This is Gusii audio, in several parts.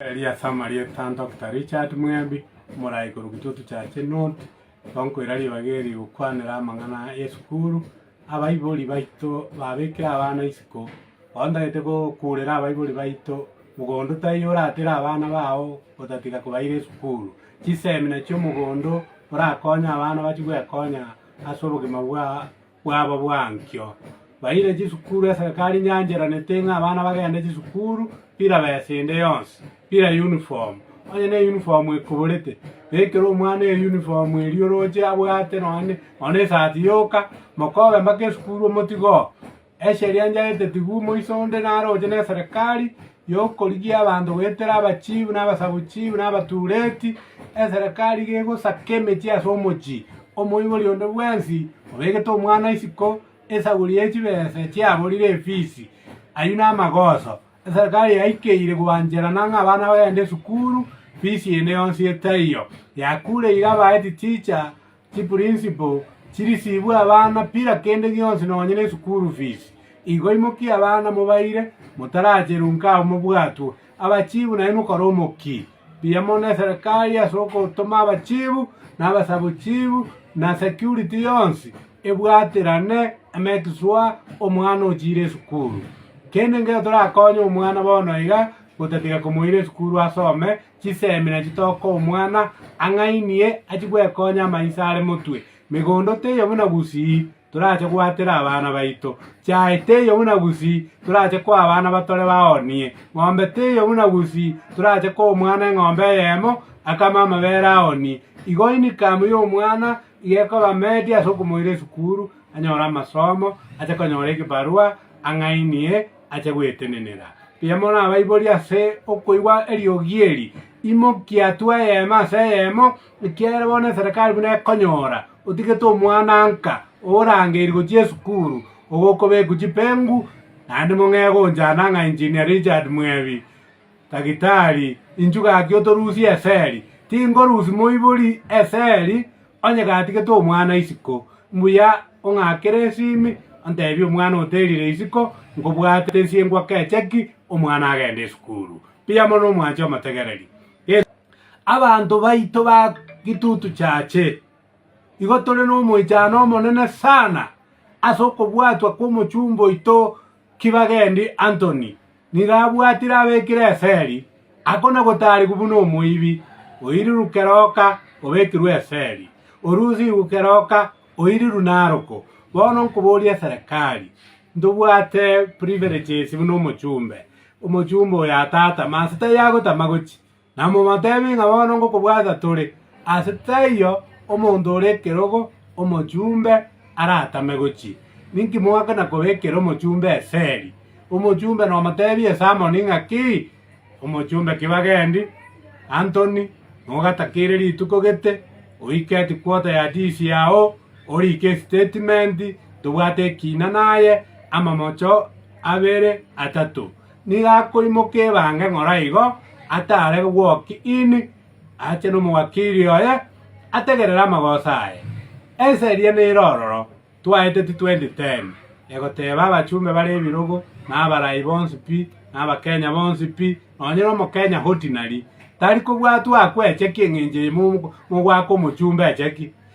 Eria Samaria etan Doctor Richard Mwembi omorai korwa Kitutu Church Nut tonkoira ribaga eri gokwanera amang'ana y'esukuru abaibori baito babekire abana isiko ontagete gokurera abaibori baito mogondo taiyo oratere abana bao otatiga kobaira esukuru chisemina chiomogondo orakonye abana bachie gwekonya ase obogima bwa bwabo bw'ankio. Baire chisukuru eserekari nyancheranete ng'a abana bagende chisukuru bila besa ende yonsi, bila uniform. Onye ne uniform ekoborete, bekera omwana eye uniform eria oroche abwate nonye ne- nonye ne esati yoka, mokobe mpaka esukuru omotige oo. Esheria njaete tigwo moiso onde naroche na eserekari. y'okorigia abanto goetera abachiibu, na abasabuchiibu, na abatuureti, eserekari gegosaka emechie ase omochie, omoibori onde bwensi obegete omwana isiko esaguri ye chibesa chiaborire efisi, ayio namagoso. Eserekari yaikeire gwancherana ng'a abana bagende esukuru, fisi ende yonsi etaiyo, yakureire abahead teacher. Chipurinsipo chirisibwe abana bila kende gionsi nonya nesukuru fisi. Igo imokie abana mobaire, motaracheru nkao mobwatwe. Abachibu naye mokore omokie buya mono neserekari ase ogotoma abachibu na abasabochibu na security yonsi ebwaterane emake sure omwana ochire esukuru. Kende nkere torakonye omwana bono iga gotatiga komoira esukuru asome Chisemi na chitoka omwana ang'ainie achie gwekonya amaiso are motwe. Megondo teiyo buna gusii torache gwatera abana baito. Chiae teiyo buna gusii torache koa abana batore baonie. Ng'ombe teiyo buna gusii torache koa omwana eng'ombe eyemo akame amabere aonie. Igo inikamu y'omwana iga ekoba medi ase okomoira esukuru anyore amasomo, ache konyora egebarua ang'ainie ache gwetenenera. Mbuya morabaiborie ase okoigwa eriogi eri, Imokia twe eyemo ase eyemo, ekiagera bono eserekari buna ekonyora otigete omwananka orangeiri gochia esukuru, ogokobekwa chipengu, naende mong'ee gonchana ng'a Engineer Richard Mwebi. Daktari, inchuo gaki otorusie eseri. Tinkorusia moibori eseri, onye gatigete omwana isiko. Mbuya ong'akere esimi, ontebie omwana oterire isiko, nkobwate ensiengu akeche ki, omwana agende esukuru. Mbuya mono omwanche omotegereri. Yeso. Abanto baito ba gitutu chiache, igo tore nomoichano omonene sana ase okobwatwa kw'omochumba oito Kibagendi Antony nigo abwatire abekire eferi akona gotaarigwa buna omoibi oiriru keroka obekirwe eferi, orusirwe keroka oiriru naroko. Bono nkoboria eserekari, ntobwate privileges buna omochumbe, omochumbe oyo atata, manse taiyo agotama gochia. Namobateebie ng'a bono ngokobwata tore ase taiyo omonto ore ekerogo omochumbe aratame gochia. Ninki mogakana kobekera omochumbe esegi? Omochumbe nomoteebie Simoni ng'a ki? Omochumbe ki bagendi? Antoni, nogatakeire rituko gete, oike etikwota ya tisi yao, orike esitatimenti, tobwate ekiina naye, amamocho abere, atato. Nigo akoimoka ebange ng'ora igo ataare gwoki ini, ache nomowakiri oye, ategerere amagoso aye. Ensa eria neire ororo, twaete titwendi teni, egoteba abachumbe bare ebirogo, na abarai bonsi pi, na Abakenya bonsi pi, nonye na Omokenya ordinary, tari kobwatwa akwecheki engencho eye mogwaka omochumbe acheki.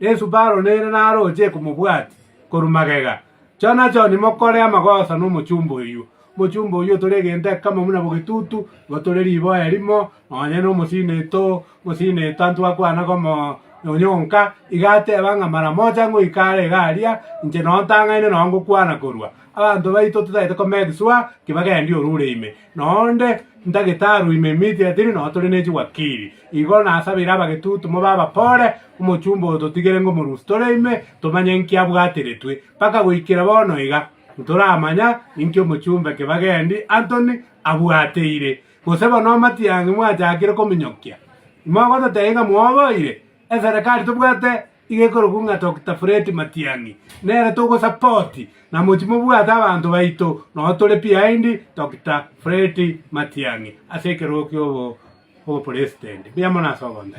Yeso baroneire naroche komobwati korwa magega. Chonachoni mokore amagoso nomochumba oyio. Omochumba oyio otore egento ekemo buna bogetutu, igo tore riboya rimo, nonye nomosini to mosini to ntwakwana komo onyonka, iga ateba ng'a mara mocha ngoika are iga aria, inche noo ntang'aine noo ngokwana korwa. Abanto baito totagete kometiswa, ki bagendi orure ime. Noonde ndagitari oino emiti etiri, nonya tore ne chiwakiri. Igo nasabeire abagetutu mobe abapore, omochumba oyo totigere ngomorusie tore ime, tomanye inki abwatiretwe. Mpaka goikera bono iga, ntoramanya inki omochumba eke bagendi Anthony abwateire. Gose bono amatiang'i mwachakire kominyokia, imogototebi ng'a mwoboire? Eserekari tobwate Iga ekorokwa ng'a Doctor Fred Matiang'i. Nere togosupport na mochi mobwate abanto baito noo tore behind Doctor Fred Matiang'i ase ekerogo kia obopresident. Mbuya mono ase ogontaichwa.